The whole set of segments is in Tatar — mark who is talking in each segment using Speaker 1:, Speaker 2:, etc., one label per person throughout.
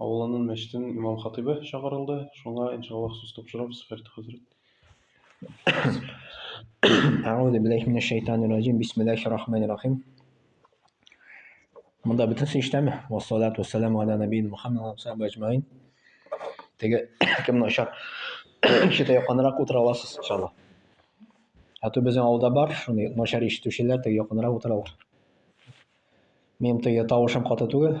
Speaker 1: авылының мәчетенең имам-хатыйбы чакырылды, шуңа, иншаллаһ, сүз тапшырабыз, Фәрит хәзрәт.
Speaker 2: Әгъүзу биллаһи минәш шәйтанир раҗим. Бисмиллаһир рахманир рахим. Монда бөтенесе иштәме? Ва салату вассаламу аля набиин Мухаммад ва сахабы аҗмаин. Теге кемне очар? Ишетә якынрак утыра аласыз, иншалла. Ә то безнең авылда бар, шуны начар ишетүчеләр теге якынрак утыралар. Минем теге тавышым каты түгел.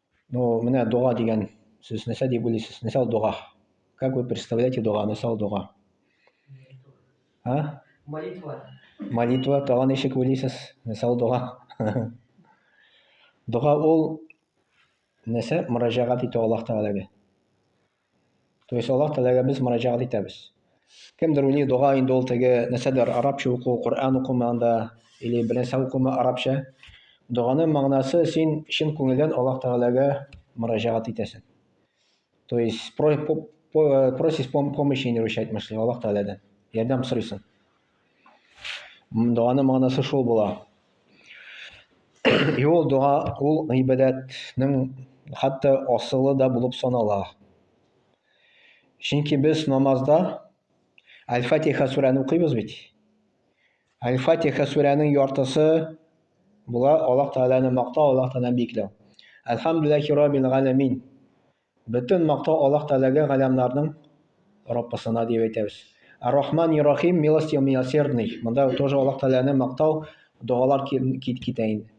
Speaker 2: Ну, менә дога дигән сүз нәрсә дип уйлыйсыз? Нәрсә ул дога? Как вы представляете дога? Нәрсә ул дога? А? Молитва. Молитва тагын ничек уйлыйсыз? Нәрсә ул дога? Дога ул нәрсә? Мөрәҗәгать итү Аллаһ Тәгаләгә. То есть Аллаһ Тәгаләгә без мөрәҗәгать итәбез. Кемдер уйлый, дога инде ул теге нәрсәдер арабча уку, Коръән укума анда или бернәрсә укума арабча. Доганың мәгънәсе син чын күңелдән Аллаһ Тәгаләгә мөрәҗәгать итәсең. То есть просишь помощи, русча әйтмешли, Аллаһ Тәгаләдән ярдәм сорыйсың. Дуаны манасы шул була. И ул дуа, ул гыйбадәтнең хәтта асылы да булып санала. Чөнки без намазда Аль-Фатиха сүрәне укыйбыз бит. Аль-Фатиха сүрәнең яртысы була Аллаһ Тәгаләне мактау, Аллаһ Тәгаләне биекләү. Әлхәмдүлилләһи раббил галәмин. Бөтен мактау Аллаһ Тәгаләгә, галәмнәрнең Раббысына дип әйтәбез. Ар-Рахман и Рахим, милостив милосердный. Монда тоже Аллаһ Тәгаләне мактау, догалар кит китә инде.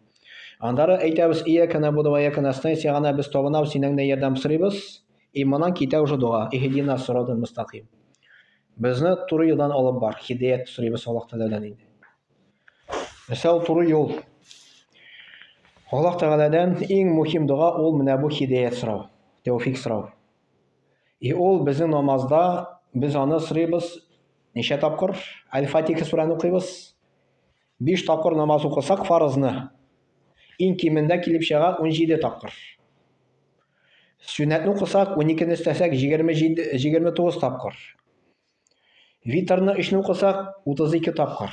Speaker 2: Аннары әйтәбез, Ияка набуду ва ияка настаин, сиңа гына без табынабыз, синнән генә ярдәм сорыйбыз. И моннан китә уже дога, ихдина сирата мустаким. Безне туры юлдан алып бар, хидәят сорыйбыз Аллаһ Тәгаләдән инде. Исә ул туры юл. Аллаһ Тәгаләдән иң мөһим дога ул менә бу хидәят сорау, тәүфик сорау. И ул безнең намазда без аны сорыйбыз ничә тапкыр? Аль-Фатиха сүрәне укыйбыз. Биш тапкыр намаз укысак фарызны, иң кимендә килеп чыга 17 тапкыр. Сүнәтне укысак, 12-ні өстәсәк, 27, 29 тапкыр. Витрны өчне укысак, 32 тапкыр.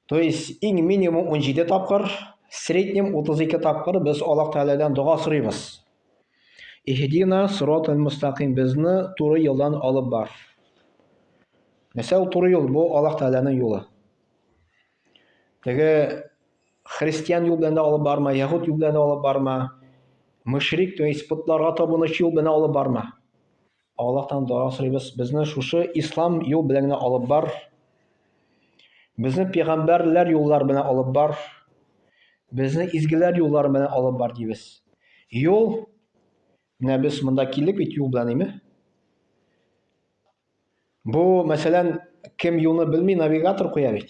Speaker 2: То есть иң минимум 17 тапкыр, среднем 32 тапкыр без Аллаһ Тәгаләдән дога сорыйбыз. Иһдина сиротал мустаким безне туры юлдан алып бар. Нәрсә ул туры юл? Бу Аллаһ Тәгаләнең юлы. Теге христиан юл белән алып барма, яһуд юл белән алып барма, мөшрик, то есть путларга табынучы юл белән алып барма. Аллаһтан дога сорыйбыз, безне шушы ислам юл белән генә алып бар. Безне пәйгамбәрләр юллар белән алып бар. Безне изгеләр юллары белән алып бар дибез. Юл менә без монда килдек бит юл белән, әйме? Бу, мәсәлән, кем юлны белми, навигатор куя бит.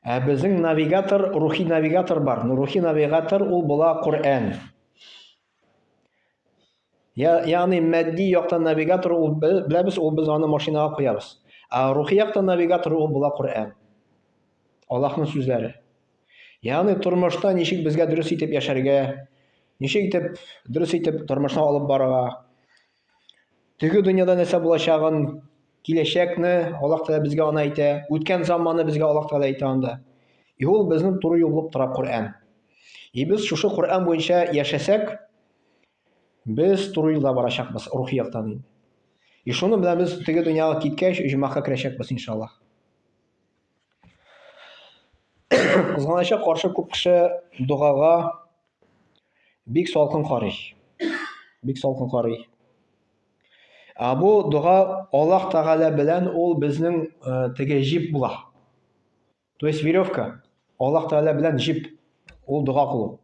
Speaker 2: Ә безнең навигатор, рухи навигатор бар. Ну, рухи навигатор ул була Коръән. Ягъни мәдди яктан навигатор ул беләбез, ул без аны машинага куябыз. Ә рухи яктан навигатор ул була Коръән. Аллаһның сүзләре. Ягъни тормышта ничек безгә дөрес итеп яшәргә, ничек итеп дөрес итеп тормышны алып барырга, Теге дөньяда нәрсә булачагын, киләчәкне Аллаһ Тәгалә безгә аны әйтә, үткән заманны безгә Аллаһ Тәгалә әйтә анда. И ул безнең туры юл булып тора Коръән. И без шушы Коръән буенча яшәсәк, без туры юлда барачакбыз рухи яктан инде. И шуны белән без теге дөньяга киткәч, җумаһка керәчәкбез иншаллаһ. Кызганыча каршы күп кеше догага Бик салкын карый. Бик салкын карый. Ә бу дога Аллаһ Тәгалә белән ул безнең э, теге җип була. То есть веревка. Аллаһ Тәгалә белән җип. Ул дога кылу.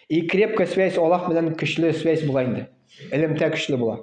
Speaker 2: И крепкая связь Аллаһ белән көчле связь була инде. Элемтә көчле була.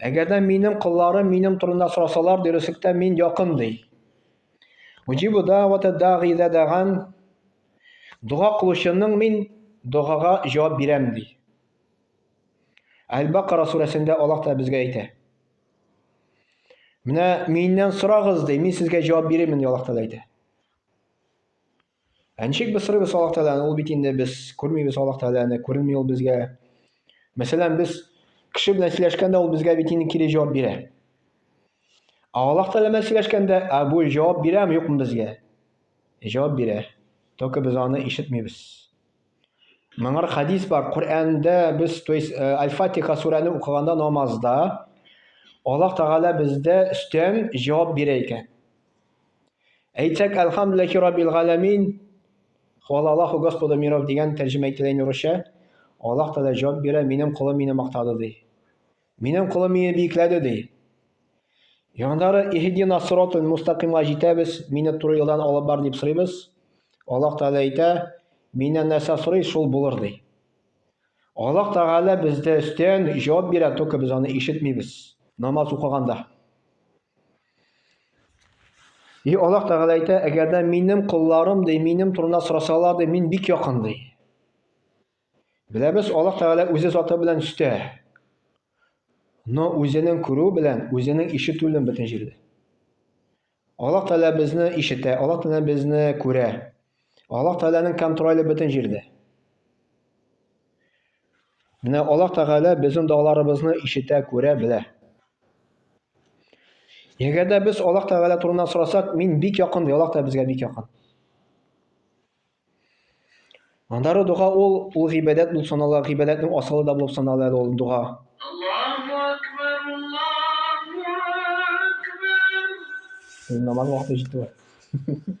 Speaker 2: Әгәр дә минем кылларым минем турында сорасалар, дөреслектә мин якын ди. Уҗибу дәвата дәгъи дә дәган дога кылучының мин догага җавап бирәм ди. Әл-Бакара сүрәсендә Аллаһ та безгә әйтә. Менә миннән сорагыз ди, мин сезгә җавап бирермен ди Аллаһ та әйтә. Ә ничек без сорыйбыз Аллаһ Тәгаләне? Ул бит инде без күрмибез Аллаһ Тәгаләне, күренми ул безгә. Мәсәлән, без кеше белән сөйләшкәндә ул безгә бит инде кире җавап бирә. Ә Аллаһ Тәгалә белән сөйләшкәндә, ә бу җавап бирәме, юкмы безгә? Җавап бирә. Только без аны ишетмибез. Моңар хадис бар. Коръәндә без, то есть, э, Аль-Фатиха сүрәне укыганда намазда Аллаһ Тәгалә бездә өстән җавап бирә икән. Әйтсәк, Әлхәмдүлилләһи раббил галәмин, Хвала Аллаху Господу миров дигән тәрҗемә ителә инде урысча. Аллаһ Тәгалә җавап бирә, минем колым мине мактады ди. Минем колым мине биекләде ди. Яңдары Иһдина сиротул мустакимга җитәбез, мине туры юлдан алып бар дип сорыйбыз. Аллаһ Тәгалә әйтә, миннән нәрсә сорый, шул булыр ди. Аллаһ Тәгалә бездә өстән җавап бирә, только без аны ишетмибез. Намаз укыганда. И Аллаһ Тәгалә әйтә, әгәр дә минем колларым ди, минем турында сорасалар ди, мин бик якын ди. Беләбез, Аллаһ Тәгалә үзе заты белән үстә. Но үзенең күрү белән, үзенең ишетүлен бөтен җирдә. Аллаһ Тәгалә безне ишетә, Аллаһ Тәгалә безне күрә. Аллаһ Тәгаләнең контроле бөтен җирдә. Менә Аллаһ Тәгалә безнең догаларыбызны ишетә, күрә, белә. Әгәр дә без Аллаһ Тәгалә турында сорасак, мин бик якын, Аллаһ та безгә бик якын. Андары дога ул ул гыйбадәт булып санала, гыйбадәтнең асылы да булып санала әле ул дога. Намаз вакыты җитте.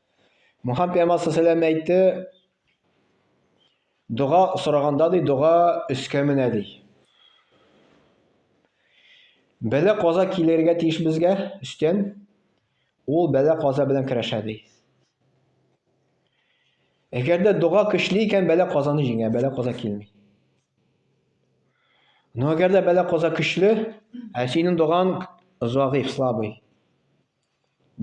Speaker 2: Мухаммед пәйгамбәр саллаллаху әйтте, дога сораганда ди, дога өскә менә ди. Бәлә каза килергә тиеш безгә өстән. Ул бәлә каза белән көрәшә ди. Әгәр дә дога көчле икән, бәлә казаны җиңә, бәлә каза килми. Но әгәр дә бәлә каза көчле, ә синең доган заиф, слабый.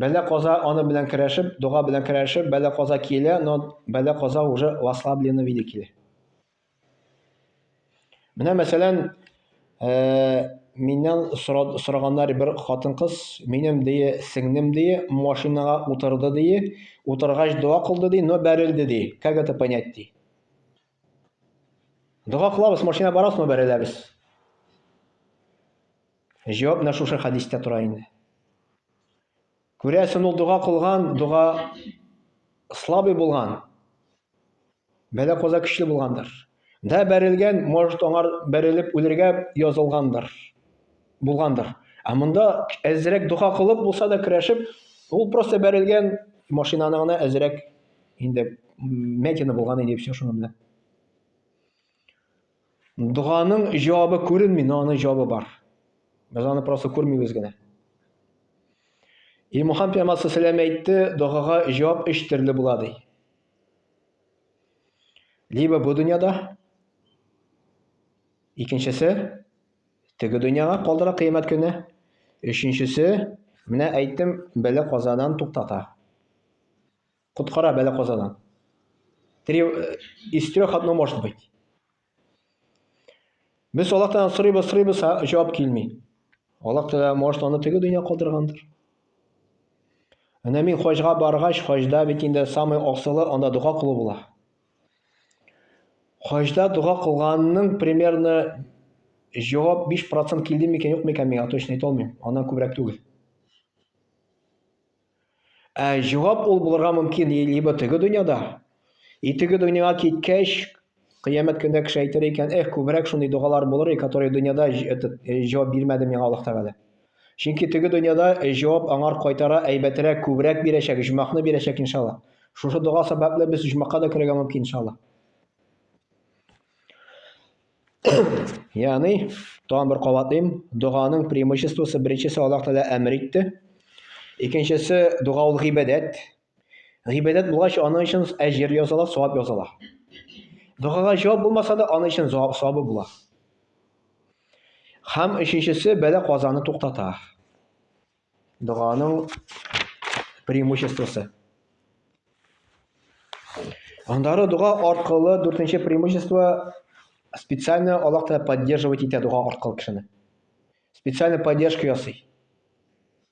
Speaker 2: Бәла-каза аны белән керәшеп, дога белән керәшеп, бәла-каза килә, но бәла-каза уже в ослабленном виде килә. Менә мәсәлән, э, миннән сора- сораганнар бер хатын-кыз, минем дие, сеңнем дие, машинага утырды дие, утыргач дога кылды ди, но бәрелде ди. Как это понять ди? Дога кылабыз, машина барасмы бәреләбез. Җавап менә шушы хәдистә тора инде. Күрәсен ул дога кылган, дога слабый булган. Бәлә коза көчле булгандыр. Да бәрелгән, может, аңар бәрелеп үлергә язылгандыр. булгандыр. Ә монда әзрәк дога кылып булса да керәшеп, ул просто бәрелгән машинаны гына әзрәк инде мәтины булган иде все шуның белән. Доганың җавабы күренми, но аның җавабы бар. Без аны просто күрмибез генә. И Мухаммед пәйгамбәр сәләм әйтте, догага җавап өч төрле була ди. Либо бу дөньяда, икенчесе Теге дөньяга калдыра кыямәт көне. Өченчесе, менә әйттем, бәла-казадан туктата. Коткара бәла-казадан. Три, э, из трех одно может быть. Без Аллаһтан сорыйбыз, сорыйбыз, җавап килми. Аллаһ Тәгалә может аны теге дөнья калдыргандыр. Әнә мин хаҗга баргач, хаҗда бит инде самый асылы анда дога кылу була. Хаҗда дога кылганның примерно җавап 5 процент килде микән, юк микән, миңа точно әйтә алмыйм, аннан күбрәк түгел. Ә җавап ул булырга мөмкин либо теге дөньяда, и теге дөньяга киткәч, кыямәт көндә кеше әйтер икән, эх, күбрәк шундый догалар булыр, и которые дөньяда этот, җавап бирмәде миңа Аллаһ Тәгалә. Чөнки теге дөньяда җавап аңар кайтара әйбәтерәк, күбрәк бирәчәк, оҗмахны бирәчәк, иншаллаһ. Шушы дога сәбәпле без оҗмахка да керергә мөмкин, иншаллаһ. Ягъни, тагын бер кабатлыйм, доганың преимуществосы беренчесе Аллаһ Тәгалә әмер итте. Икенчесе, дога ул гыйбадәт. Гыйбадәт булгач, аның өчен әҗер языла, савап языла. Догага җавап булмаса да, аның өчен савабы була. Һәм өченчесе бәла казаны туктата. Доганың преимуществосы. Аннары дога аркылы дүртенче преимущество специально Аллаһ Тәгалә поддерживать итә дога аркылы кешене. Специально поддержка ясый.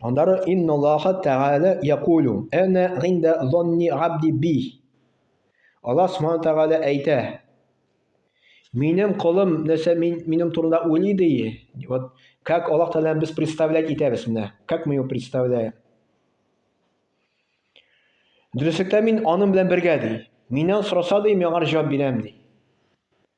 Speaker 2: Аннары инна Аллаһа тәгалә якулю әнә инда зонни абди би. Аллаһ Субхану тәгалә әйтә. Минем колым нәрсә мин, минем турында уйлый ди. Вот как Аллаһ тәгалә без представлять итәбез менә. Как мы его представляем? Дөреслектә мин аның белән бергә ди. Миннән сораса ди, миңа җавап бирәм ди.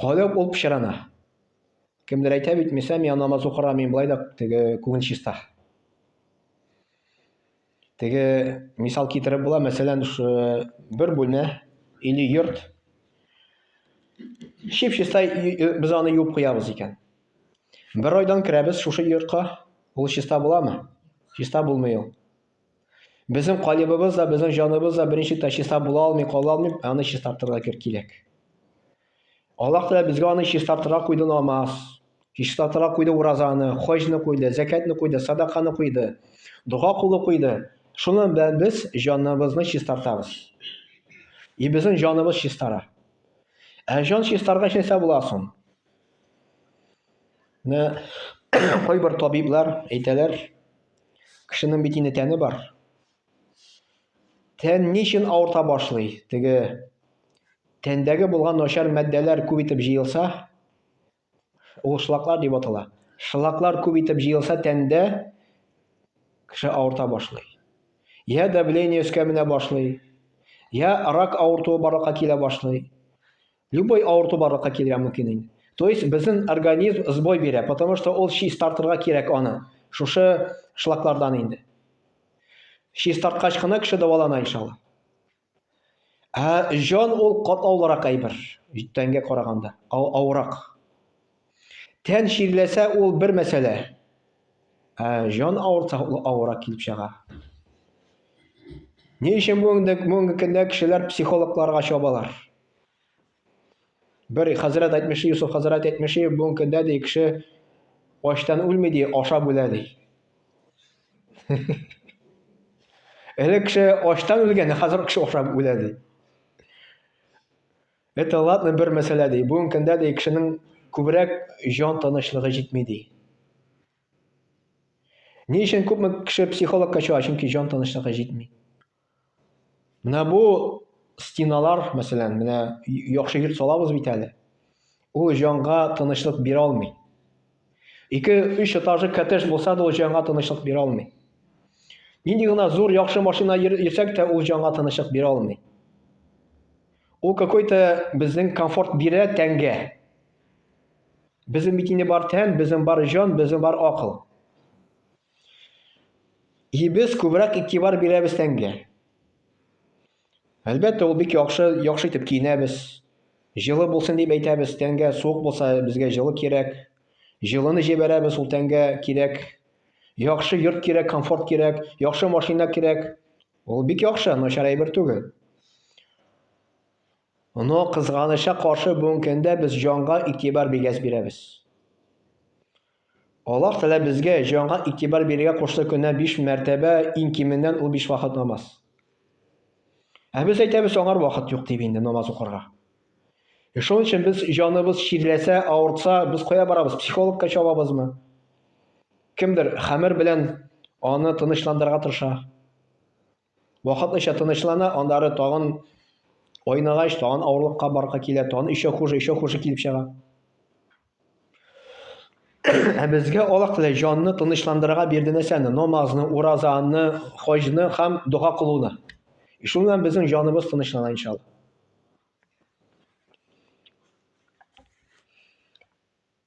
Speaker 2: Каләү ул пычрана. Кемдер әйтә бит, Миса, миңа намаз укырга мин болай да теге күңел чиста. Теге мисал китереп була, мәсәлән, бер бүлмә или йорт чип-чиста без аны юып куябыз икән. Бер айдан керәбез шушы йортка, ул чиста буламы? Чиста булмый ул. Безнең калибыбыз да, безнең җаныбыз да беренче тә чиста була алмый, кала алмый, аны чистартырга кирәк. Аллаһ Тәгалә безгә аны чистартырга куйды намаз, чистартырга куйды уразаны, хаҗны куйды, зәкәтне куйды, садаканы куйды, дога кулы куйды. Шуны белән без җаныбызны чистартабыз. И безнең җаныбыз чистара. Ә җан чистарга нәрсә була соң? Менә кайбер табиблар әйтәләр, Кешенең бит инде тәне бар. Тән ни өчен авырта башлый? Теге тәндәге булган начар матдәләр күп итеп җыелса, ул шлаклар дип атала. Шлаклар күп итеп җыелса тәндә кеше авырта башлый. Я давление өскә менә башлый, я рак авыртуы барлыкка килә башлый. Любой авырту барлыкка килергә мөмкин инде. То есть безнең организм сбой бирә, потому что ул чистартырга кирәк аны. Шушы шлаклардан инде. Чистарткач кына кеше дәвалана иншалла. Ә җан ул катлаулырак әйбер, тәнгә караганда, авырак. Тән чирләсә ул бер мәсьәлә. Ә җан авырса ул авырак килеп чыга. Ни өчен бүгенге көндә кешеләр психологларга чабалар? Бер хәзрәт әйтмешли, Юсуф хәзрәт әйтмешли, бүгенге көндә ди кеше ачтан үлми ди, ашап үлә ди. Элек кеше ачтан үлгән, хәзер кеше ашап үлә ди. Это ладно бер мәсьәлә ди. Бүгенге көндә ди кешенең күбрәк җан тынычлыгы җитми ди. Ни өчен күпме кеше психологка чыга, чөнки җан тынычлыгы җитми. Менә бу стеналар, мәсәлән, менә яхшы йорт салабыз бит әле. Ул җанга тынычлык бирә алмый. Ике, өч этажлы коттедж булса да, ул җанга тынычлык бирә алмый. Нинди гына зур, яхшы машина йөрсәк тә, ул җанга тынычлык бирә алмый. Ул какой-то безнең комфорт бирә тәнгә. Безнең бит инде бар тән, безнең бар җан, безнең бар акыл. И без күбрәк игътибар бирәбез тәнгә. Әлбәттә, ул бик яхшы, яхшы итеп киенәбез. Җылы булсын дип әйтәбез, тәнгә суык булса, безгә җылы кирәк. Җылыны җибәрәбез, ул тәнгә кирәк. Яхшы йорт кирәк, комфорт кирәк, яхшы машина кирәк. Ул бик яхшы, начар әйбер түгел. Но кызганыча каршы бүгенге көндә без җанга игътибар бигәс бирәбез. Аллаһ Тәгалә безгә җанга игътибар бирергә кушты көненә биш мәртәбә, иң кименнән ул биш вакыт намаз. Ә без әйтәбез, аңар вакыт юк дип инде намаз укырга. Э, шуның өчен без җаныбыз чирләсә, авыртса, без кая барабыз? Психологка чабабызмы? Кемдер хәмер белән аны тынычландырырга тырыша. Вакытлыча тынычлана, аннары тагын айныгач, тагын авырлыкка барка килә, тагын еще хуже, еще хуже килеп чыга. Ә безгә Аллаһ Тәгалә җанны тынычландырырга бирде нәрсәне? Намазны, уразаны, хаҗны һәм дога кылуны. И шул белән безнең җаныбыз тынычлана иншалла.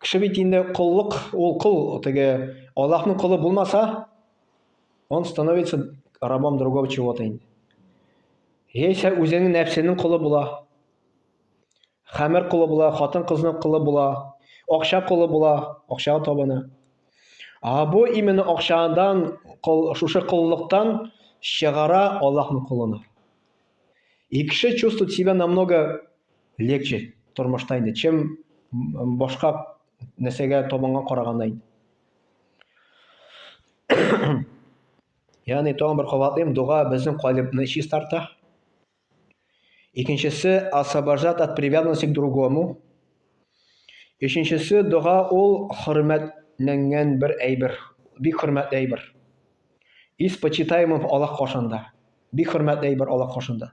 Speaker 2: Кеше бит инде коллык, ул кол, теге Аллаһның колы булмаса, он становится рабом другого чего-то инде. Яисә үзенең нәфсенең колы була. Хәмер колы була, хатын-кызның колы була, акча колы була, акчага табына. А бу именно акчадан, шушы коллыктан чыгара Аллаһның колына. И кеше чувствует себя намного легче тормышта инде, чем башка нәрсәгә табанга караганда инде. Ягъни тагын бер кабатлыйм, дога безнең калебны чистарта. Икенчесе освобождать от привязанности к другому. Өченчесе дога ул хөрмәтләнгән бер әйбер, бик хөрмәтле әйбер. Из почитаемых Аллаһ каршында. Бик хөрмәтле әйбер Аллаһ каршында.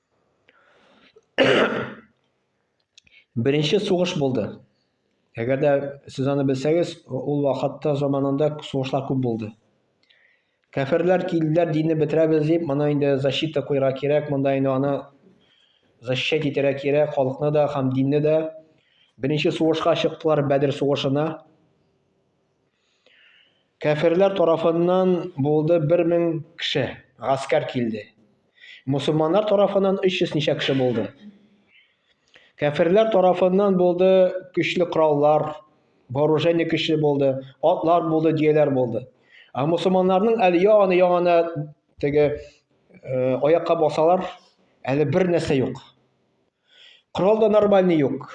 Speaker 2: Беренче сугыш булды. Әгәр дә сез аны белсәгез, ул вакытта заманында сугышлар күп булды. Кәферләр килделәр, динне бетерәбез дип, моны инде защита куйырга кирәк, монда инде аны защищать итәргә кирәк, халыкны да һәм динне дә. Беренче сугышка чыктылар Бәдер сугышына. Кәферләр тарафыннан булды бер мең кеше, гаскәр килде. Мусулманнар тарафыннан өч йөз ничә кеше булды. Кәферләр тарафыннан булды көчле кораллар, вооружение көчле булды, атлар булды, дияләр булды. Ә мусулманнарның әле яңаны яңаны теге э, аякка басалар, әле бер нәрсә юк. Корал да нормальный юк.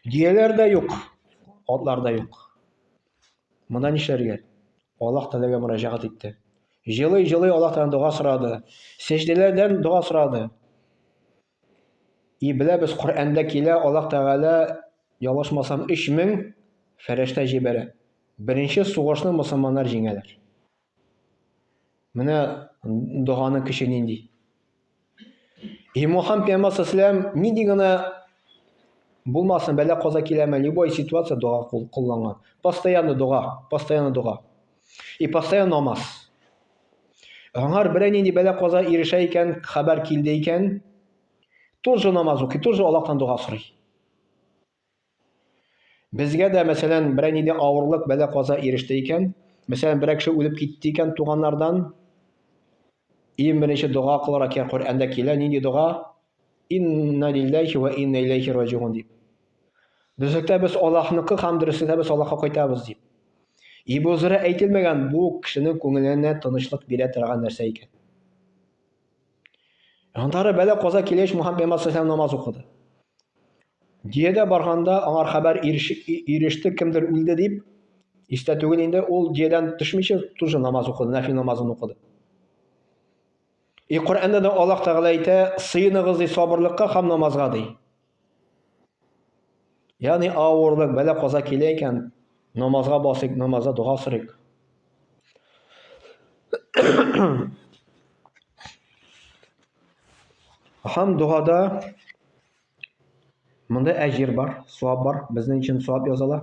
Speaker 2: Дөяләр дә юк, атлар да юк. Монда нишләргә? Аллаһ Тәгаләгә мөрәҗәгать итте. Җылый-җылый Аллаһтан дога сорады. Сәҗдәләрдән дога сорады. И беләбез, Коръәндә килә, Аллаһ Тәгалә, ялгышмасам, 3000 фәрештә җибәрә. Беренче сугышны мусламаннар җиңәләр. Менә доганы көче нинди. И Мухаммад пәйгамбәр салләм нинди генә булмасын, бәлә каза киләме, любой ситуация дога кулланган. Постоянно дога, постоянно дога. И постоянно намаз. Аңар берәй нинди бәлә каза ирешә икән, хәбәр килде икән, тут же намаз укый, тут же Аллаһтан дога сорый. Безгә дә, мәсәлән, берәр нидә авырлык, бәла-каза иреште икән, мәсәлән, берәр кеше үлеп китте икән туганнардан, иң беренче дога кылырга кирәк, Коръәндә килә, нинди дога? Инна лилләхи вә инна иләйхи раҗигун дип. Дөреслектә без Аллаһныкы һәм дөреслектә без Аллаһка кайтабыз дип. Ибу Зурә әйтелмәгән бу кешенең күңеленә тынычлык бирә торган нәрсә икән. Аннары бәлә каза килеш Мухаммед пәйгамбәр саллаллаху намаз укыды. Диядә барганда аңар хәбәр иреште, кемдер үлде дип, истә түгел инде, ул диядән төшмичә тоже намаз укыды, нәфил намазын укыды. И Коръәндә дә Аллаһ Тәгалә әйтә, сыеныгыз ди сабырлыкка һәм намазга ди. Ягъни авырлык, бәла каза килә икән, намазга басыйк, намазда дога сорыйк. Һәм догада монда әҗир бар, савап бар, безнең өчен савап язала.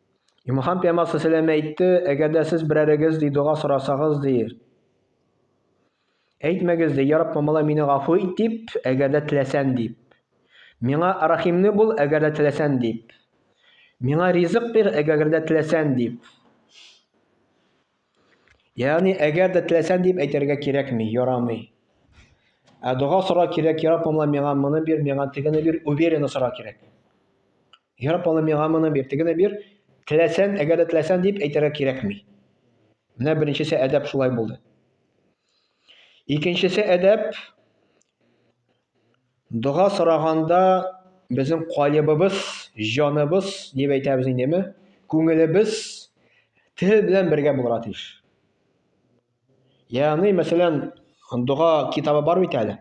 Speaker 2: Имахан пиямасы сәләм әйтте, әгәр дә сез берәрегез ди дога сорасагыз ди. Әйтмәгез ди, яраб мамала мине гафу ит дип, әгәр дә теләсән дип. Миңа рахимне бул, әгәр дә теләсән дип. Миңа ризык бир, әгәр дә теләсән дип. Ягъни, әгәр дә теләсәң дип әйтергә кирәкми, ярамый. Ә дога сорау кирәк, Йә Раббым, миңа моны бир, миңа тегене бир, уверенно сорау кирәк. Йә Раббым, миңа моны бир, тегене бир, теләсәң, әгәр дә теләсәң дип әйтергә кирәкми. Менә беренчесе әдәп шулай булды. Икенчесе әдәп Дога сораганда безнең калебыбыз, җаныбыз, дип әйтәбез индеме, күңелебез тел белән бергә булырга тиеш. Ягъни, мәсәлән, дога китабы бар бит әле.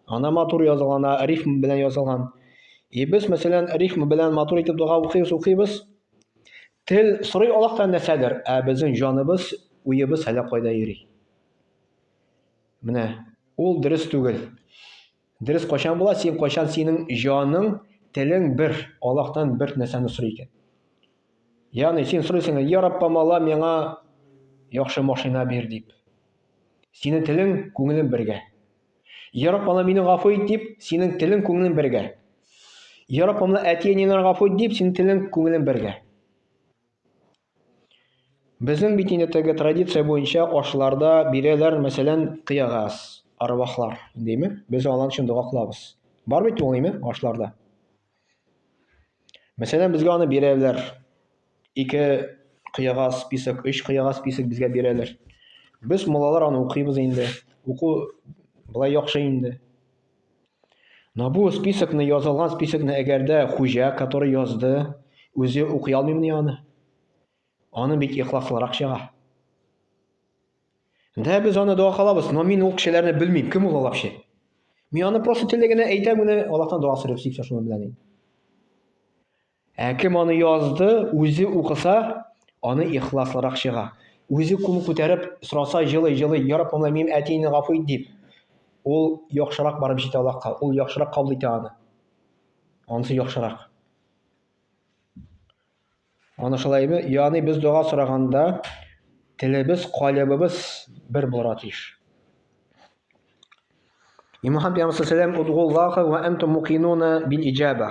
Speaker 2: Ана матур язылган, рифм белән язылган. И без, мәсәлән, рифм белән матур итеп дога укыйбыз, укыйбыз. Тел сорый Аллаһтан нәрсәдер, ә безнең җаныбыз, уебыз әллә кайда йөри. Менә ул дөрес түгел. Дөрес кайчан була? Син кайчан синең җаның, телең бер, Аллаһтан бер нәрсәне сорый икән. Ягъни син сорыйсың, "Я Рабб, помала миңа яхшы машина бир" дип. Синең телең, күңелең бергә. "Я Рабб, ана мине гафу ит" дип, синең телең, күңелең бергә. "Я Рабб, ана әти-әниләрне гафу ит" дип, синең телең, күңелең бергә. Безнең бит инде теге традиция буенча ашларда бирәләр, мәсәлән, кыягаз, арвахлар, дими. Без алар өчен дога кылабыз. Бар бит ул, дими, ашларда. Мәсәлән, безгә аны бирәләр. Ике кыягаз писек, өч кыягаз писек безгә бирәләр. Без, муллалар, аны укыйбыз инде. Уку былай яхшы инде. Но бу списокны язылган списокны әгәр дә хуҗа, который язды, үзе укый алмыймыни аны? Аны бит ихласлырак чыга. Дә без аны дога кылабыз, но мин ул кешеләрне белмим, кем ул алар вообще? Мин аны просто телегенә әйтәм генә, Аллаһтан дога сорыйм, сипсә шуның белән. Ә кем аны язды, үзе укыса, аны ихласлырак чыга. Үзе кул күтәреп сораса җылый-җылый, Я Раббым, менә минем әтине гафу ит, дип, ул яхшырак барып җитә Аллаһка, ул яхшырак кабул итә аны. Анысы яхшырак. Аны шулаймы? Яни без дога сораганда телебез, калебыбыз бер булырга тиеш. И Мухаммад пәйгамбәр сәлам удгуллаха ва антум мукинуна бил иҗаба.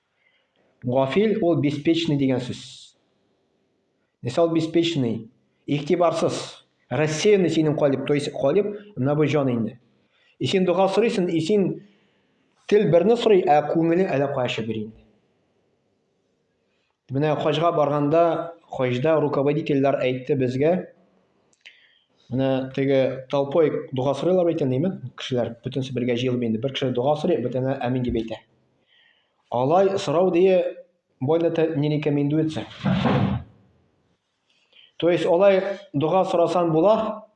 Speaker 2: Гафил ул беспечный дигән сүз. Нәрсә ул беспечный? Игътибарсыз. Рассеянный синең калиб, то есть калиб набыҗан инде. И син дога сорыйсың, и син тел берне сорый, ә күңелең әллә кая чөбер инде. Менә хаҗга барганда, хаҗда руководительләр әйтте безгә, Менә теге толпой дога сорыйлар бит инде, кешеләр бөтенесе бергә җыелып инде. Бер кеше дога сорый, бөтенләр амин дип әйтә. Алай сорау дие больно-то не рекомендуется. То есть алай дога сорасан була,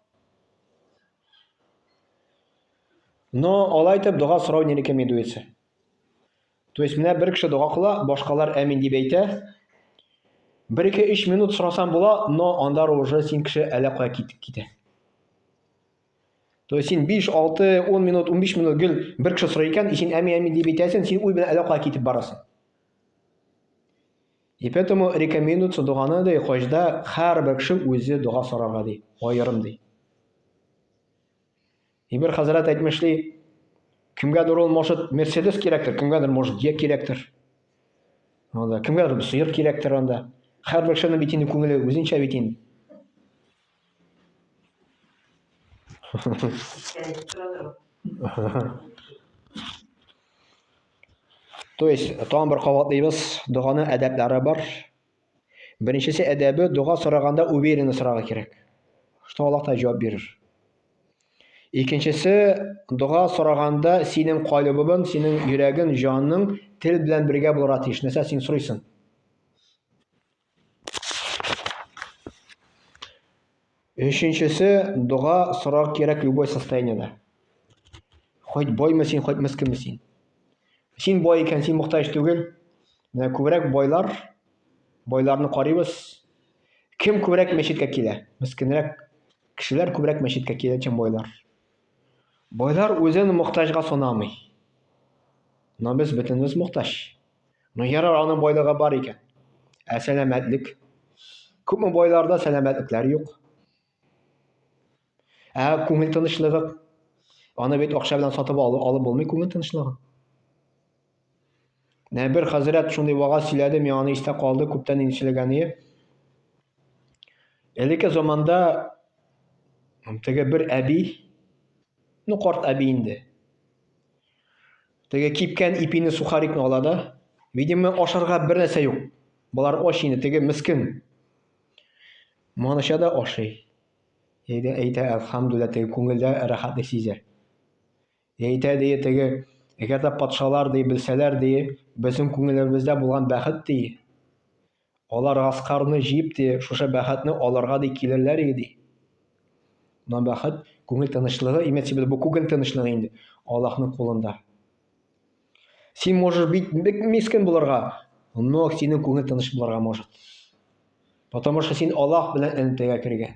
Speaker 2: но алай итеп дога сорау не рекомендуется. То есть менә бер кеше дога кыла, башкалар әмин дип әйтә. Бер ике өч минут сорасан була, но анда уже син кеше әллә кая китеп китә. То есть син 5, 6, 10 минут, 15 минут гел бер кеше сорый икән, син әми әми дип әйтәсең, син уй белән әллә китеп барасың. И поэтому рекомендуется доганы ди, хаҗда һәрбер кеше үзе дога сорарга ди, аерым ди. И бер хәзрәт әйтмешли, кемгәдер ул может Мерседес кирәктер, кемгәдер может Е кирәктер. Анда кемгәдер сыер кирәктер анда. Һәрбер кешенең бит инде күңеле үзенчә бит инде. То есть, тагын бер кабатлыйбыз, доганы әдәпләре бар. Беренчесе әдәбе, дога сораганда уверенно сорарга кирәк. Что Аллах та җавап бирер. Икенчесе, дога сораганда синең калыбың, синең йөрәгең, җаның тел белән бергә булырга тиеш. Нәрсә син сорыйсың? Өченчесе дога сорар кирәк любой состояниедә. Хоть боймы син, хоть мескенме син. Син бой икән, син мохтаҗ түгел. Менә күбрәк байлар, байларны карыйбыз. Кем күбрәк мәчеткә килә? Мескенрәк кешеләр күбрәк мәчеткә килә, чем байлар. Байлар үзен мохтаҗга санамый. Но без бөтенебез мохтаҗ. Ну ярар, аның байлыгы бар икән. Ә сәламәтлек? Күпме байларда сәламәтлекләр юк. Ә күңел тынычлыгы? Аны бит акча белән сатып алып, алып булмый күңел тынычлыгы. Нә бер хәзрәт шундый вагаз сөйләде, миңа аны истә калды, күптән инде сөйләгәне. Элекке заманда теге бер әби, ну карт әби инде, Теге кипкән ипине сухарикны ала да, видимо, ашарга бер нәрсә юк. Болар ач инде, теге мискен. Маныча да ашый. Әйдә, әйтә, әлхамдүлилла, теге күңелдә рәхәтлек сизә. Әйтә, ди, теге, әгәр дә патшалар, ди, белсәләр, ди, безнең күңелебездә булган бәхет, ди, Алар Гаскарны җыеп ди, шушы бәхетне алырга ди килерләр иде ди. Менә бәхет, күңел тынычлыгы, имеется в виду, бу күңел тынычлыгы инде Аллаһның кулында. Син можешь бик бик мискен булырга, но синең күңел тыныч булырга может. Потому что син Аллаһ белән элемтәгә кергән.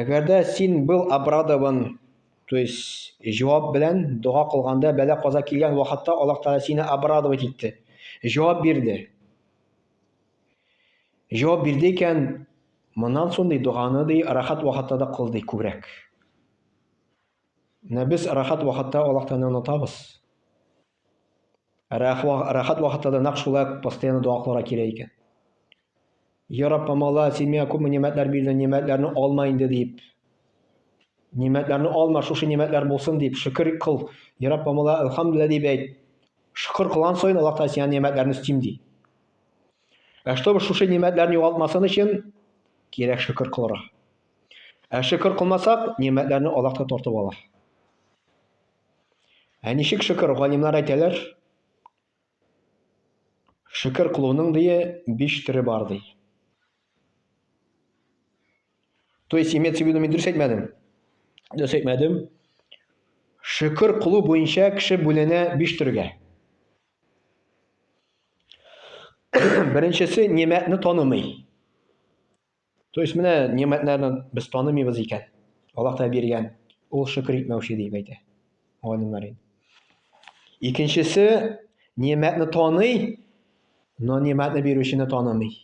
Speaker 2: Әгәр дә син был обрадован, то есть җавап белән дога кылганда бәла-каза килгән вакытта Аллаһ Тәгалә сине обрадовать итте. Җавап бирде. Җавап бирде икән, моннан соң ди доганы ди рахат вакытта да кыл ди күбрәк. Менә без рахат вакытта Аллаһ Тәгаләне онытабыз. Рәхәт вакытта да нәкъ шулай постоянно дога кылырга кирәк икән. Я Рабб, мала, син миңа күпме нигъмәтләр бирдең, нигъмәтләрне алма инде дип. Нигъмәтләрне алма, шушы нигъмәтләр булсын дип шөкер кыл. Я Рабб, мала, алхамдулилла дип әйт. Шөкер кылган саен Аллаһ Тәгалә сиңа нигъмәтләрне өстим ди. Ә чтобы шушы нигъмәтләрне югалтмасын өчен кирәк шөкер кылырга. Ә шөкер кылмасак, нигъмәтләрне Аллаһ та тартып ала. Ә ничек шөкер галимнар әйтәләр? Шөкер кылуның дие биш төре бар ди. То есть имеется в виду мин дөрес әйтмәдем. Дөрес әйтмәдем. Шөкер кылу буенча кеше бүленә биш төргә. Беренчесе нимәтне танымый. То есть менә нигъмәтләрне без танымыйбыз икән. Аллаһ Тәгалә биргән. Ул шөкер итмәүче дип әйтә. Галимнәр инде. Икенчесе нигъмәтне таный, но нигъмәтне бирүчене танымый.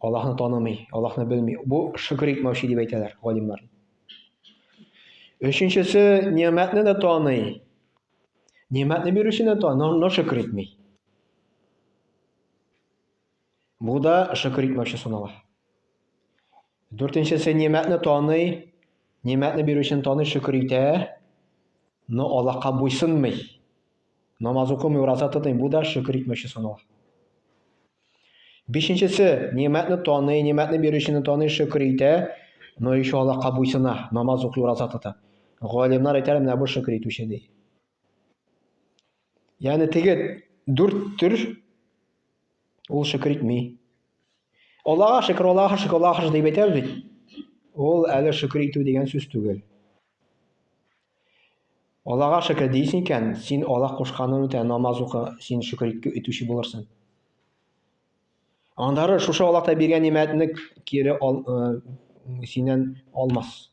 Speaker 2: Аллаһны танымый, Аллаһны белми. Бу шөкер итмәүче дип әйтәләр галимнәр. Өченчесе нигъмәтне дә таный. Нигъмәтне бирүчене таный, но шөкер итми. Бу да шөкер итмәүче санала. Дүртенчесе нимәтне таный, нимәтне бирүчене таный, шөкер итә, но Аллаһка буйсынмый. Намаз укымый, ураза тотмый, бу да шөкер итмәүче санала. Бишенчесе нимәтне таный, нимәтне бирүчене таный, шөкер итә, но еще Аллаһка буйсына, намаз укый, ураза тота. Галимнар әйтәләр, менә бу шөкер итүче ди. Яны теге дүрт төр ул шөкер итми. Аллага шөкер, Аллага шөкер, Аллага шөкер дип әйтәбез бит. Ул әле шөкер итү дигән сүз түгел. Аллага шөкер дисең икән, син Алла кушканын үтә, намаз укы, син шөкер итүче булырсың. Андары шушы Аллаһта биргән нимәтне кире ал, э, синнән алмас.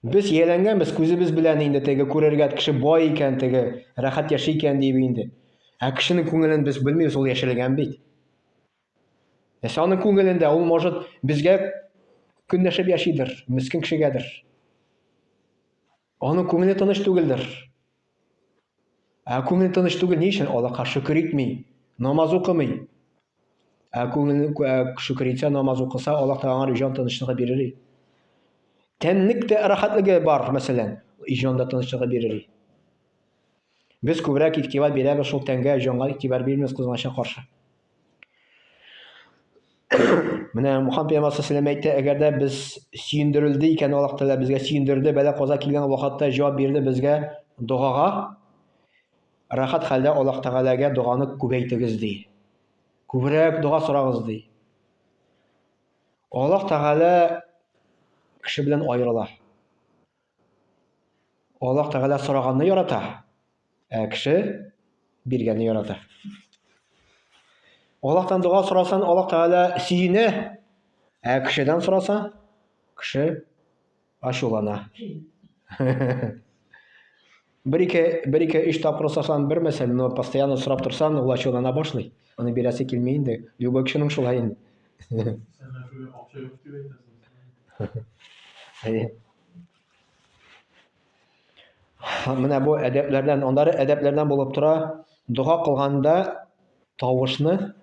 Speaker 2: Без ияләнгәнбез, күзебез белән инде теге күрергә кеше бай икән, теге рәхәт яши икән дип инде. Ә кешенең күңелен без белмибез, ул яшерелгән бит. Нәрсә аның күңелендә? Ул, может, безгә көнләшеп яшидер, мескен кешегәдер. Аның күңеле тыныч түгелдер. Ә күңел тыныч түгел, ни өчен? Аллаһка шөкер итми, намаз укымый. Ә күңел шөкер итсә, намаз укыса, Аллаһ та аңар җан тынычлыгы бирер. Тәнлек тә рәхәтлеге бар, мәсәлән, җан да тынычлыгы бирер. Без күбрәк игътибар бирәбез шул тәнгә, җанга игътибар бирмибез кызганычка каршы. Менә Мухан пәйгамбәр саллаллаху әйтә, әгәр дә без сөендерелде икән Аллаһ Тәгалә безгә сөендерде, бәла каза килгән вакытта җавап бирде безгә догага. Рахат хәлдә Аллаһ Тәгаләгә доганы күбәйтегез ди. Күбрәк дога сорагыз ди. Аллаһ Тәгалә кеше белән аерыла. Аллаһ Тәгалә сораганны ярата, ә кеше биргәнне ярата. Аллаһтан дога сорасан, Аллаһ Тәгалә сөенә, ә кешедән сораса, кеше ачулана. Бер-ике, бер-ике, өч тапкыр сорасам бирмәсә, но постоянно сорап торсам, ул ачулана башлый. Аны бирәсе килми инде. Любой кешенең шулай инде. Менә бу әдәпләрдән, аннары әдәпләрдән булып тора. Дога кылганда тавышны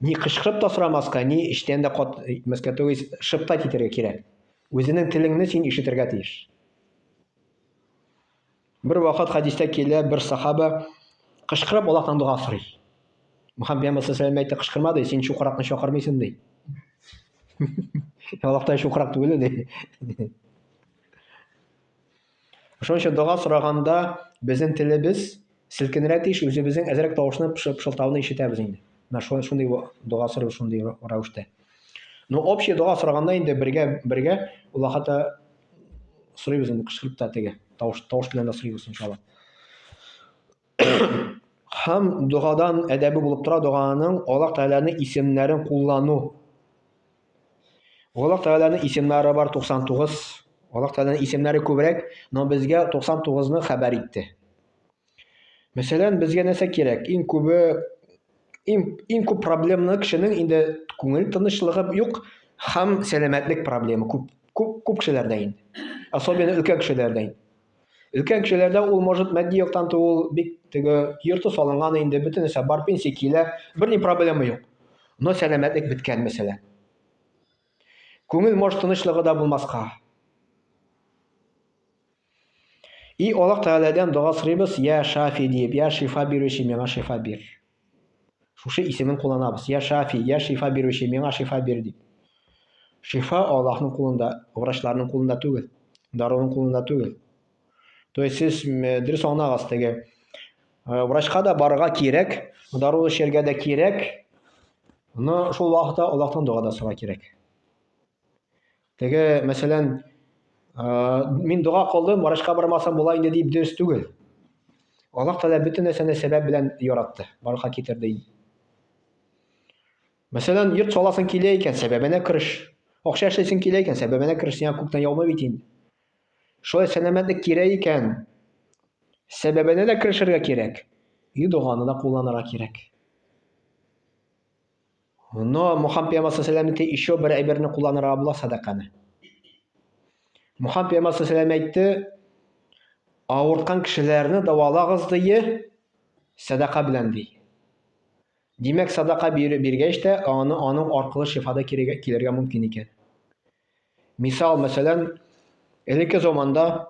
Speaker 2: Ни кычкырып та сорамаска, ни эчтән дә кат итмәскә, то есть шыптай китәргә кирәк. Үзенең телеңне син ишетергә тиеш. Бер вакыт хәдистә килә, бер сахаба кычкырып Аллаһтан дога сорый. Мөхәммәд пәйгамбәр саллаллаху әйтте, кычкырма ди, син чукыракны чакырмыйсың ди. Аллаһ та чукырак түгел ди. Шуның өчен дога сораганда безнең телебез селкенергә тиеш, үзебезнең әзрәк тавышны пышылтауны ишетәбез инде. Менә шундый шундый дога сорый шундый рәвештә. Ну, общий дога сораганда инде бергә бергә Аллаһыта сорыйбыз инде кычкырып та теге тавыш тавыш белән дә сорыйбыз иншалла. Һәм догадан әдәбе булып тора доганың Аллаһ Тәгаләнең исемнәрен куллану. Аллаһ Тәгаләнең исемнәре бар 99. Аллаһ Тәгаләнең исемнәре күбрәк, но безгә 99-ны хәбәр итте. Мәсәлән, безгә нәрсә кирәк? Иң күбе иң, иң күп проблемны кешенең инде күңел тынычлыгы юк һәм сәламәтлек проблемы күп, күп, күп кешеләрдә инде. Особенно өлкән кешеләрдә инде. Өлкән кешеләрдә ул может матди яктан туу бик теге йорты салынган инде, бөтен нәрсә бар, пенсия килә, бер ни проблема юк. Но сәламәтлек беткән мәсьәлә. Күңел может тынычлыгы да булмаска. И Аллаһ Тәгаләдән дога сорыйбыз, я Шафи диеп, я шифа бирүче миңа шифа бир. Шушы исемен кулланабыз. Я Шафи, я шифа бирүче, миңа шифа бир дип. Шифа Аллаһның кулында, врачларның кулында түгел, даруның кулында түгел. То есть сез дөрес аңлагыз теге врачка да барырга кирәк, дару эчәргә дә кирәк, но шул вакытта Аллаһтан дога да сорарга кирәк. Теге, мәсәлән, мин дога кылдым, врачка бармасам була инде дип дөрес түгел. Аллаһ Тәгалә бөтен нәрсәне сәбәп белән яратты, барлыкка китерде. Мәсәлән, йорт саласың килә икән, сәбәбенә кереш. Акча эшләсең килә икән, сәбәбенә кереш, сиңа күктән яумый бит инде. Шулай сәламәтлек кирәк икән, сәбәбенә дә керешергә кирәк, и доганы да кулланырга кирәк. Но Мухан пиямасы сәләм итте, еще бер әйберне кулланырга була садаканы. Мухан пиямасы сәләм әйтте, авырткан кешеләрне давалагыз дие, садака белән ди. Димәк, садака биреп биргәч тә, аны аның аркылы шифада килергә мөмкин икән. Мисал, мәсәлән, элекке заманда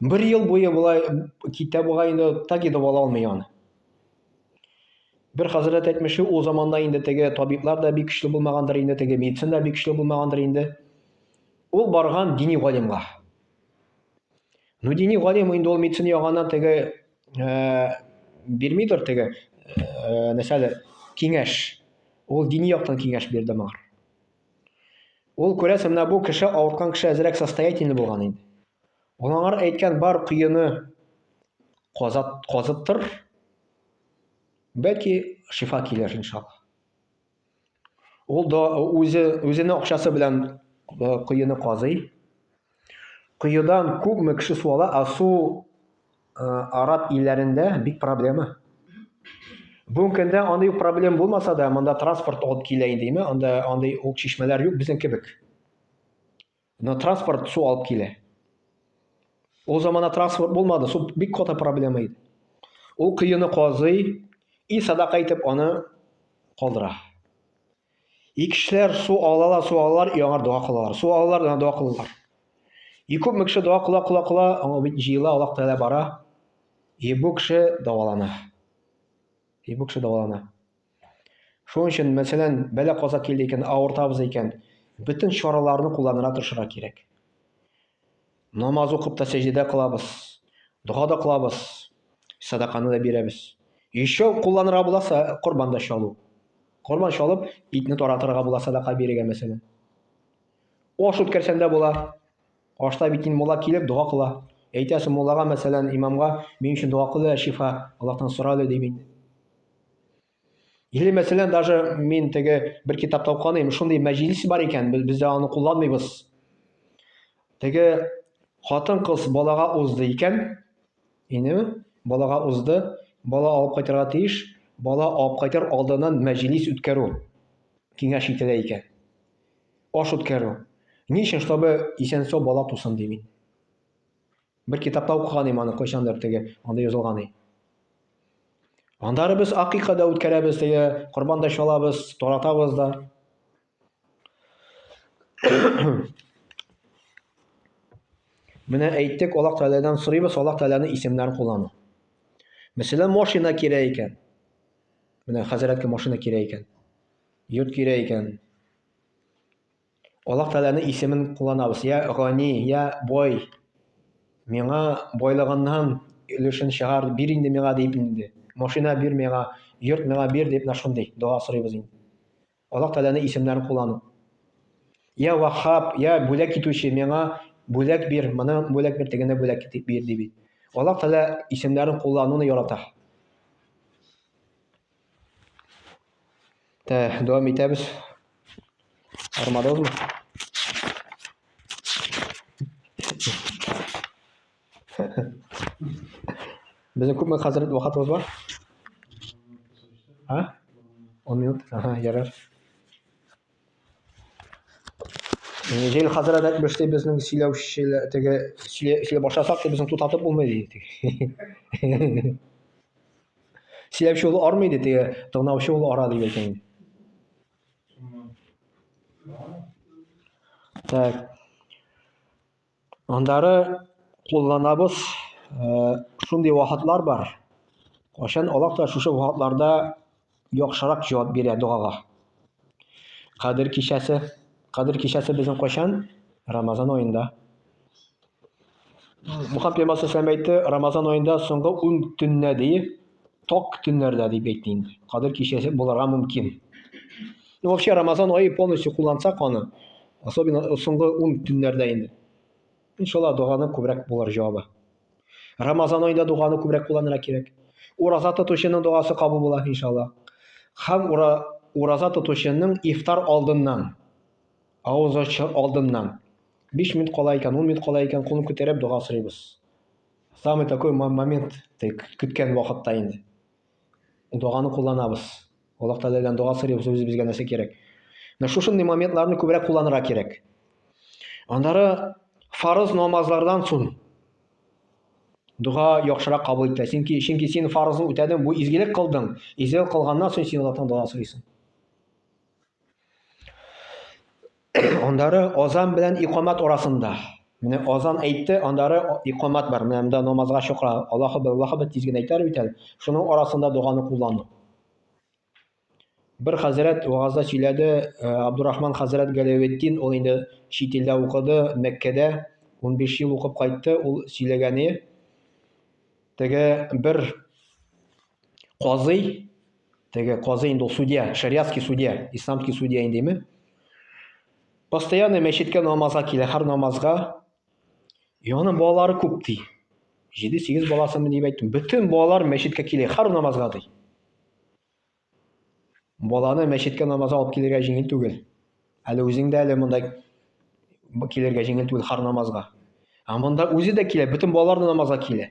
Speaker 2: Бер ел буе болай китә буга инде так и дәвалый алмый аны. Бер хәзрәт әйтмешли, ул заманда инде теге табиблар да бик көчле булмагандыр инде, теге медицина да бик көчле булмагандыр инде. Ул барган дини галимга. Ну дини галим инде ул медицина яганнан теге э, бирмидер теге э, нәрсәле киңәш. Ул дини яктан киңәш бирде моңа. Ул, күрәсең, менә бу кеше авырткан кеше әзрәк состоятельный булган инде. Ул аңар әйткән бар көене казат, казыттыр. Бәлки шифа килер иншалла. Ул да үзе, үзенең акчасы белән э, коены казый. Коедан күпме кеше су ала, а су э, араб илләрендә бик проблема. Бүгенге көндә андый ук проблем булмаса да, монда транспорт алып килә инде, әйме? Анда андый ук чишмәләр юк безнең кебек. Но транспорт су алып килә. Ул заманда транспорт булмады, су бик каты проблема иде. Ул кыйыны казый и садака итеп аны калдыра. И кешеләр су алалар, су алалар, и аңар дога кылалар. Су алалар, аңа дога кылалар. И күп мөкше дога кыла, кыла, кыла, аңа бит җыела, Аллах Тәгалә бара. И бу кеше давалана. И бу кеше давалана. Шуның өчен, мәсәлән, бәлә каза килде икән, авыртабыз икән, бөтен чараларны кулланырга тырышырга кирәк. Намаз укып та сәҗдә кылабыз, дога да кылабыз, садаканы да бирәбез. Еще кулланырга буласа, корбан да чалу. Корбан чалып, итне таратырга була садака бирергә мәсәлән. Аш үткәрсәң дә була. Ашта бит инде мулла килеп дога кыла. Әйтәсе муллага мәсәлән, имамга, мин өчен дога кыл, шифа Аллаһтан сора әле ди мин. Или, мәсәлән, даже мин теге бер китапта укыган шундый мәҗлис бар икән, без бездә аны кулланмыйбыз. Теге хатын-кыз балага узды икән, ине балага узды, бала алып кайтырга тиеш, бала алып кайтыр алдыннан мәҗлис үткәрү киңәш ителә икән. Аш үткәрү. Ни өчен, чтобы исән-сау бала тусын ди мин. Бер китапта укыган идем аны кайчандыр теге анда язылган и. Андары без акыйка да үткәрәбез теге корбан да чалабыз, таратабыз да. Менә әйттек, Аллаһ Тәгаләдән сорыйбыз, Аллаһ Тәгаләнең исемнәрен куллану. Мәсәлән, машина кирәк икән. Менә хәзрәткә машина кирәк икән. Йорт кирәк икән. Аллаһ Тәгаләнең исемен кулланабыз, йә Гани, йә Бай, миңа байлыгыннан өлешен чыгар, бир инде миңа дип инде. Машина бир миңа, йорт миңа бир дип менә шундый дога сорыйбыз инде. Аллаһ Тәгаләнең исемнәрен куллану. Йә Ваххаб, йә бүләк итүче, миңа бүләк бир, моны бүләк бир, тегене бүләк бир ди бит. Аллаһ Тәгалә исемнәрен куллануны ярата. Так, дәвам итәбез. Армадозмы? Безнең күпме хәзер вакытыбыз бар? А? 10 минут. Ага, ярар. Җил хәзрәт әйтмеш ди, безнең сөйләүчеләр теге сөйләп башласак, безнең тутатып булмый ди. Сөйләүче ул армый ди, теге тыңлаучы ул ара ди икән. Так. Аннары кулланабыз шундый вакытлар бар. Кайчан Аллаһ та шушы вакытларда яхшырак җавап бирә догага. Кадер кичәсе, Кадер кичәсе безнең кайчан? Рамазан аенда. Мухаммед пәйгамбәр әйтте, Рамазан аенда соңгы 10 төннә ди, Ток төннәрдә дип әйтте инде. Кадер кичәсе булырга мөмкин. Ну, вообще, Рамазан айы полностью куллансак аны, особенно соңгы ун төннәрдә инде. Иншалла, доганы күбрәк булыр җавабы. Рамазан айында доганы күбрәк кулланырга кирәк. Ураза тотучының догасы кабул була, иншалла. Һәм ура, ураза тотучының ифтар алдыннан, авыз ачу алдыннан, 5 минут кала икән, 10 минут кала икән, кулын күтәреп дога сорыйбыз. Самый такой момент, көткән вакытта инде. Доганы кулланабыз. Аллаһ Тәгаләдән дога сорыйбыз, үзе безгә нәрсә кирәк. Менә шушындый моментларны күбрәк кулланырга кирәк. Аннары фарыз намазлардан соң дога яхшырак кабул ителә. Чөнки чөнки син фарызны үтәдең, бу изгелек кылдың. Изгелек кылганнан соң син Аллаһтан дога сорыйсың. Аннары азан белән икамат арасында. Менә азан әйтте, аннары икамат бар. Менә монда намазга чакыра. Аллаһу бер, Аллаһу бер тиз генә әйтәр бит әле. Шуның арасында доганы куллану. Бер хәзрәт вагазда сөйләде, э, Абдурахман хәзрәт Галәветдин, ул инде чит илдә укыды, Мәккәдә 15 ел укып кайтты, ул сөйләгәне теге бер казый Теге казый инде ул судья, шариатский судья, исламский судья индеме? Постоянно мәчеткә намазга килә, һәр намазга. И аның балалары күп ди. 7-8 баласымы дип әйттем. Бөтен балалар мәчеткә килә, һәр намазга ди. Баланы мәчеткә намазга алып килергә җиңел түгел. Әле үзең дә әле монда килергә җиңел түгел һәр намазга. Ә монда үзе дә килә, бөтен балалар да намазга килә.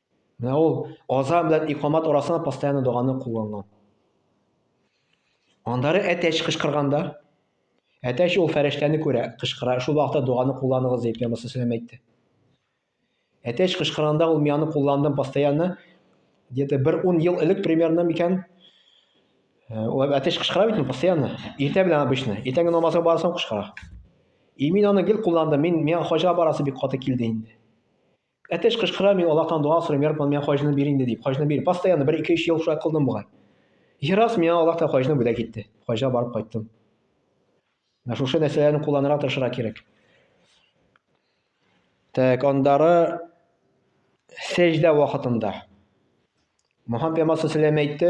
Speaker 2: Менә ул азан белән икамат арасында постоянно доганы кулланган. Аннары әтәч кычкырганда, әтәч ул фәрештәне күрә, кычкыра, шул вакытта доганы кулланыгыз дип Пәйгамбәр саллаллаху әйтте. Әтәч кычкырганда ул мияны кулландым постоянно. Где-то бер 10 ел элек примерно микән? Э, ул әтәч кычкыра бит постоянно. Иртә белән обычно. Иртәнге намазга барсам кычкыра. И мин аны гел кулландым. Мин миңа хаҗга барасы бик каты килде инде. Әтеш кычкыра, мин Аллаһтан дуа сорыйм, Йә Рабб, миңа хаҗны бир инде дип, хаҗны бир. Постоянно бер ике-өч ел шулай кылдым бугай. И раз миңа Аллаһ та хаҗны бүләк итте. Хаҗга барып кайттым. Менә шушы нәрсәләрне кулланырга тырышырга кирәк. Так, андары сәҗдә вакытында. Моһам пәйгамбәр салләм әйтте,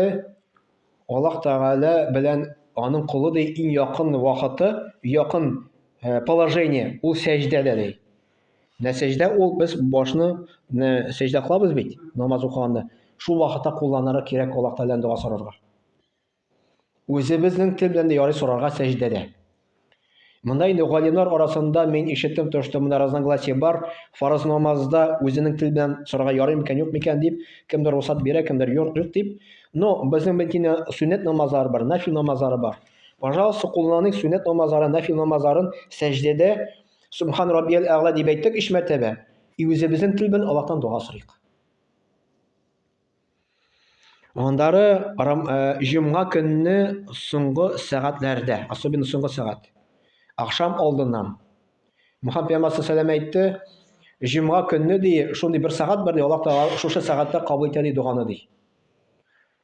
Speaker 2: Аллаһ Тәгалә белән аның колы ди иң якын вакыты, якын э, положение ул сәҗдәдә ди. Менә сәҗдә ул без башны менә сәҗдә кылабыз бит намаз укыганда. Шул вакытта кулланырга кирәк Аллаһ Тәгаләдән дога сорарга. Үзебезнең тел белән дә ярый сорарга сәҗдәдә. Монда инде галимнар арасында мин ишеттем төштем, монда разногласие бар, фарыз намазда үзенең тел белән сорарга ярый микән, юк микән дип, кемдер русат бирә, кемдер юк, юк дип. Но безнең бенкине сөннәт намазлары бар, нафил намазлары бар. Пожалуйста, кулланыйк сөннәт намазлары, нафил намазларын сәҗдәдә Субхан Раббияль Әгъла дип әйттек өч мәртәбә. И үзебезнең тел белән Аллаһтан дога сорыйк. Аннары э, җомга көнне соңгы сәгатьләрдә, особенно соңгы сәгать, ахшам алдыннан. Мөхәммәд пәйгамбәр саллаллаху әйтте, җомга көнне ди, шундый бер сәгать бар ди, Аллаһ Тәгалә шушы сәгатьтә кабул итә ди доганы ди.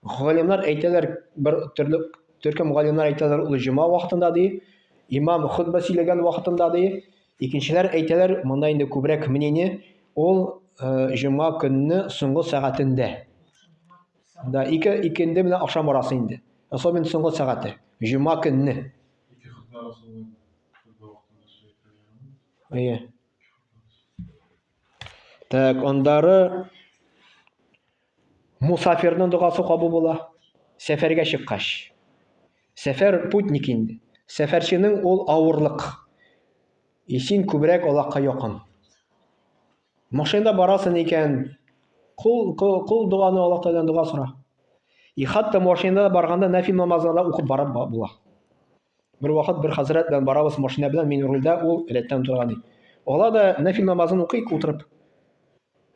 Speaker 2: Галимнәр әйтәләр, бер төрле төркем галимнәр әйтәләр, ул җомга вакытында ди, имам хутбә сөйләгән вакытында ди, Икенчеләр әйтәләр, монда инде күбрәк мнение, ул җомга көнне соңгы сәгатендә. Да, ике, икенде белән ахшам барасы инде. Особенно соңгы сәгате. Җомга көнне. Так, ондары Мусафирның догасы кабул була. Сәфәргә чыккач. Сәфәр путник инде. Сәфәрченең ул авырлык. И син күбрәк Аллаһка якын. Машинада барасын икән, кул, кул, кул доганы Аллаһ Тәгаләдән дога сора. И хатта машинада барганда нәфил намазларда укып барып була. Бер вакыт бер хәзрәт белән барабыз машина белән, мин рульдә, ул рәттән утырган ди. Ала да нәфил намазын укыйк утырып.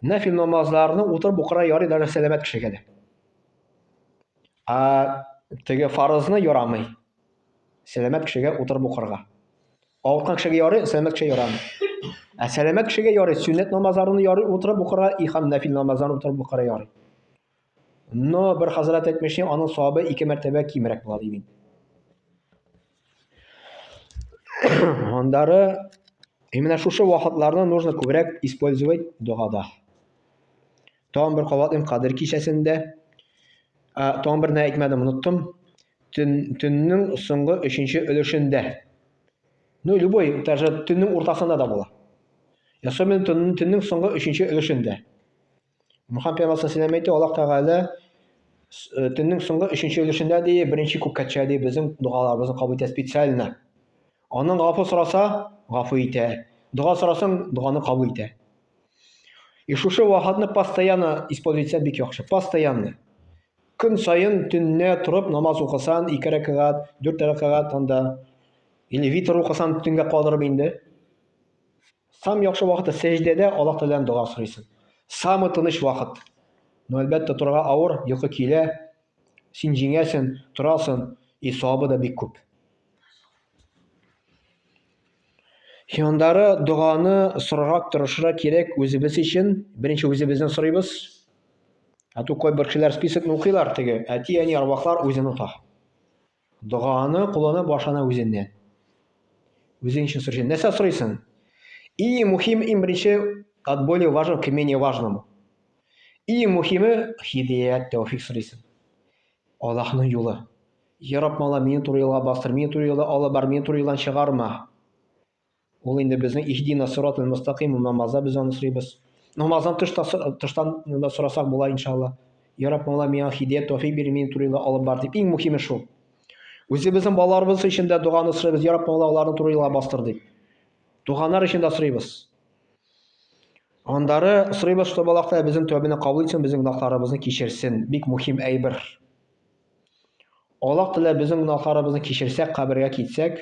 Speaker 2: Нәфил намазларны утырып укыра ярый даже сәламәт кешегә дә. А теге фарызны ярамый. Сәламәт кешегә утырып укырга. Авырткан кешегә ярый, сәламәт кешегә ярамый. Ә сәламәт кешегә ярый, сөннәт намазларны ярый утырып укыра, и һәм нәфил намазларны утырып укыра ярый. Но бер хәзрәт әйтмешли, аның савабы ике мәртәбә кимрәк була ди бит. Андары именно шушы вакытларны нужно күбрәк использовать догада. Тагын бер кабатлыйм кадер кичәсендә. Тагын берне әйтмәдем, оныттым. Төннең соңгы өченче өлешендә. Ну, любой, даже төннең уртасында да була. Особенно төннең соңгы өченче өлешендә. Мөхәммәд пәйгамбәр саллаллаху әйтте, Аллаһ Тәгалә э, төннең соңгы өченче өлешендә ди, беренче күккәчә ди безнең дугаларыбызны кабул итә специально. Аның гафу сораса, гафу итә. Дога сорасаң, доганы кабул итә. И шушы вахатны постоянно используйтсә бик яхшы. Постоянно. Көн саен төнне торып намаз укысан, ике рәкәгать, дүрт рәкәгать анда или витр укысан төнгә калдырып инде. Сам яхшы вакыты сәҗдәдә Аллаһ Тәгаләдән дога сорыйсың. Самый тыныч вакыт. Ну, әлбәттә, торырга авыр, йокы килә. Син җиңәсен, торасын, и савабы да бик күп. Хиандары доганы сорырак, тырышырак кирәк үзебез өчен. Беренче үзебездән сорыйбыз. Ә ту кайбер кешеләр списокны укыйлар теге, әти, әни, арвахлар үзен ота. Доганы куллана башлана үзеннән. Үзең өчен сорыйсың. Нәрсә сорыйсың? И мухим им беренче от более важного к менее важному. И мухиме хидият тәүфик сорыйсың. Аллаһның юлы. Яраб мала мине туры юлга бастыр, мине туры юлда алып бар, мине туры юлдан чыгарма. Ул инде безнең иһдина сират мустаким намазда без аны сорыйбыз. Намаздан тыш тыштан да сорасак була иншалла. Я Рабб, Мавла, миңа хидият, тәүфик бир, мин турыйла алып бар дип. Иң мөһиме шул. Үзебезнең балаларыбыз өчен дә доганы сорыйбыз, Я Рабб, Мавла, аларны турыйла бастыр дип. Туганнар өчен дә сорыйбыз. Андары сорыйбыз, чтобы Аллаһ Тәгалә безнең тәүбәне кабул итсен, безнең гөнаһларыбызны кичерсен. Бик мөһим әйбер. Аллаһ Тәгалә безнең гөнаһларыбызны кичерсәк, кабергә китсәк,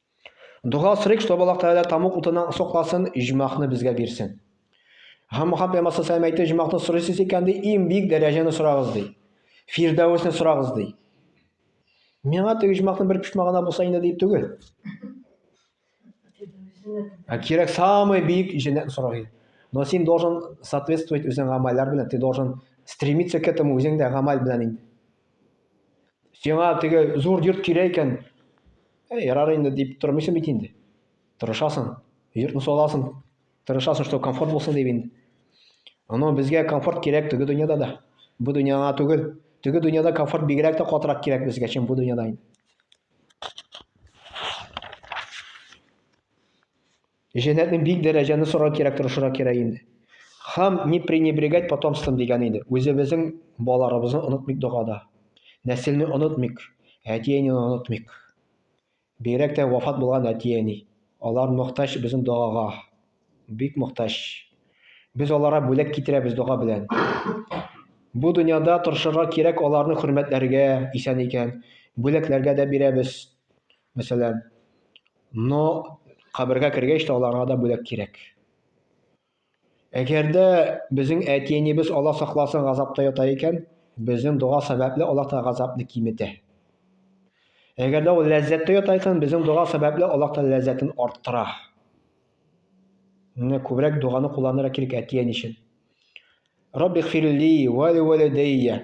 Speaker 2: Дога сорыйк, чтобы Аллаһ Тәгалә тамук утыннан сокласын, иҗмахны безгә бирсен. Һәм Мухаммад пәйгамбәр саллаллаху әйтте, иҗмахны сорыйсыз икән ди, иң бик дәрәҗәне сорагыз ди. Фирдәвесне сорагыз ди. Миңа теге иҗмахны бер пишмагына булса инде дип түгел. А кирәк самый бик җәннәтне сорагыз. Но син должен соответствовать үзең гамәлләр белән, ты должен стремиться к этому үзең дә гамәл белән инде. Сиңа теге зур йорт кирәк икән, Ә ярар инде дип тормыйсың бит инде. Тырышасың, йортны саласың, тырышасың, что комфорт булсын дип инде. Аны безгә комфорт кирәк теге дөньяда да. Бу дөньяга түгел. Теге дөньяда комфорт бигрәк тә катырак кирәк безгә, чем бу дөньяда инде. Җәннәтне бик дәрәҗәне сорар кирәк, тырышырга кирәк инде. Хам не пренебрегать потомством дигән иде. Үзебезнең балаларыбызны онытмыйк догада. Нәселне онытмыйк, әти-әнине онытмыйк. Бигрәк тә вафат булган әти-әни. Алар мохтаҗ безнең догага. Бик мохтаҗ. Без аларга бүләк китерәбез дога белән. Бу дөньяда тырышырга кирәк аларны хөрмәтләргә, исән икән. Бүләкләргә дә бирәбез. Мәсәлән, Но кабергә кергәч тә аларга да бүләк кирәк. Әгәр дә безнең әти-әнибез Алла сакласын газапта ята икән, безнең дога сәбәпле Аллаһ та газапны киметә. Әгәр дә ул ләззәттә ята икән, безнең дога сәбәпле Аллаһ та ләззәтен арттыра. Менә күбрәк доганы кулланырга кирәк әти-әни өчен. Раббихфирли ва ли валидайя.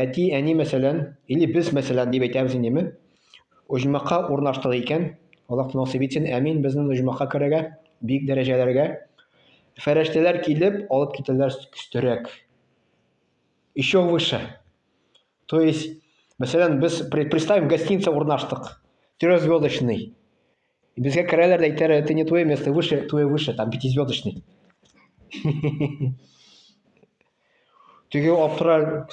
Speaker 2: Әти, әни мәсәлән, или без мәсәлән дип әйтәбез инеме? Оҗмахка урнаштык икән, Аллаһ насыйп итсен, әмин, безнең оҗмахка керергә, бик дәрәҗәләргә. Фәрәштәләр килеп, алып китәләр өстәрәк. Еще выше. То есть, мәсәлән, без, представим, гостиница урнаштык, трехзвездочный. И безгә керәләр дә әйтәләр, это не твое место, выше, твое выше, там пятизвездочный. Теге аптырар,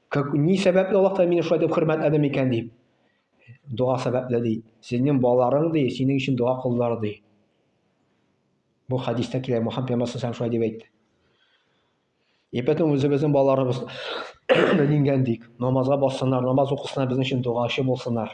Speaker 2: как, ни сәбәпле Аллаһ Тәгалә мине шулай дип хөрмәтләде микән дип. Дога сәбәпле ди. Сезнең балаларың ди, синең өчен дога кылдылар ди. Бу хадиста килә, Мөхәммәд пәйгамбәр сәлләһу шулай дип әйтте. И поэтому үзебезнең балаларыбыз дингән дик, намазга бассыннар, намаз укысыннар, безнең өчен догачы булсыннар.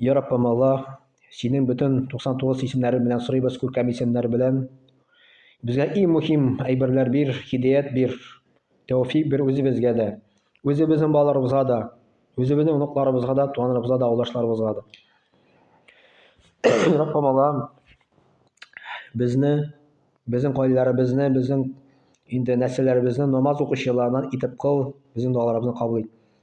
Speaker 2: Йә Раббым Алла, синең бөтен 99 исемнәре белән сорыйбыз, күркәм исемнәр белән. Безгә иң мөһим әйберләр бир, хидәят бир, тәүфик бир үзебезгә дә, үзебезнең балаларыбызга да, үзебезнең оныкларыбызга да, туганнарыбызга да, авылдашларыбызга да. Раббым Алла, безне, безнең гаиләләребезне, безнең инде нәселләребезне намаз укучылардан итеп кыл, безнең дуаларыбызны кабул ит.